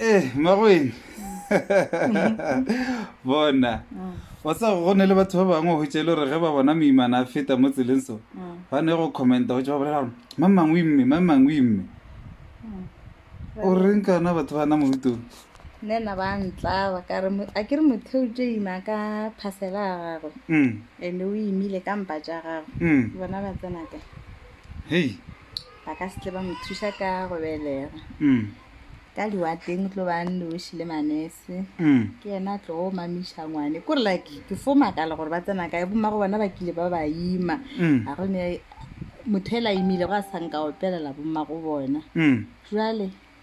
ee eh, magoeng bona mm. wa sa go ne le batho ba bangwe go tšele gore ge ba bona moimana a feta mo tseleng so mm. ba ne go commenta go tse ba bolela gore mamangwe mme mamangwe mme mm. o reng kana batho ba na mohutong nne na ba ntlaba kare a ke re motho o tse ima ka phasela a gagwe mm. and-e o imile ka mpa tša gagwe mm. bona ba tsenaka hei ba ka se tle ba mo thuša ka go belega mm. ka liwatleng o tlo ba noši le manese mm. ke yena a tlogo mamiša ngwane kore like ke fo makala gore ba tsena kae boma go bona ba kile ba ba ima mm. a gone motho e la imile go a sanka opelela boma go bona mm. jale mm.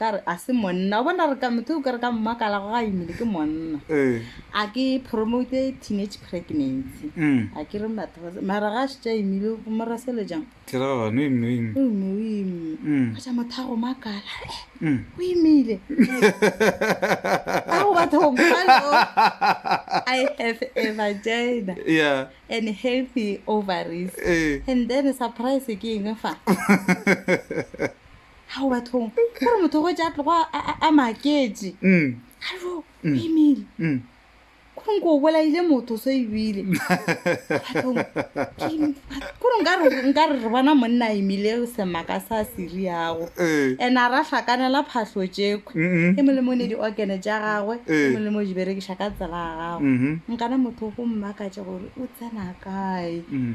ka re a se monna o bona re ka motho o kere ka mmakala go ga imile ke monna Eh, a ke promote teenage pregnancy mm. a ke re batho ba se- mara ga šitša imile go morasele jang Theragano e nngwe, e nngwe. o ime o ime Mm. a ja motho a go makala "Eh, Mm. o imile a go batho go mokalo i have a vagina Yeah, and healthy ovaries eh. and then surprise ke eng fa ao bathong gore motho go ja tlogo a maketse mm. alo mm. emile mm. kore nko o bolaile motho so ebile kore nka re re bona monna emile semaka sa seri yago eh. and-e a ra hlakanela phatlho tšeko e molemo ne di-organe tša gagwe e eh. molemo di berekiša ka tsela ya gago mm-hmm. nkana motho go mmakatše gore o tsena kae mm.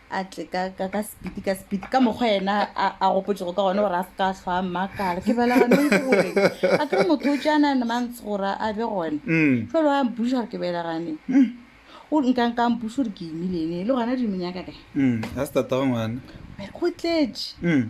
a tle ka ka ka speed ka speed ka mokgwa yena a a gopotšego ka gone gore a se ka hlwa a mmakala ke bela gane gore a kere motho o tšana ne mantse gore a be gone Mm. jalo a mpuša gore ke bela gane o nka nka mpuša gore ke imilene le gona di menyaka kae Mm. a se tatago ngwana go tletše Mm.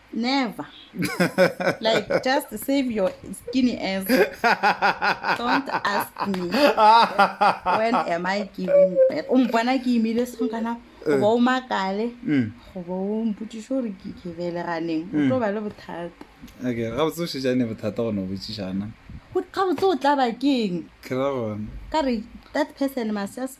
Never. like, just save your skinny ass. Don't ask me. When am I giving birth? O mpona ke imile song kana go ba o makale mm. go ba o mpotsiše gore ke ke beleganeng o tlo mm. ba le bothata okay ga botse o šetšane bothata gone o botsišana ga botse o tla bakeng ka re that person must just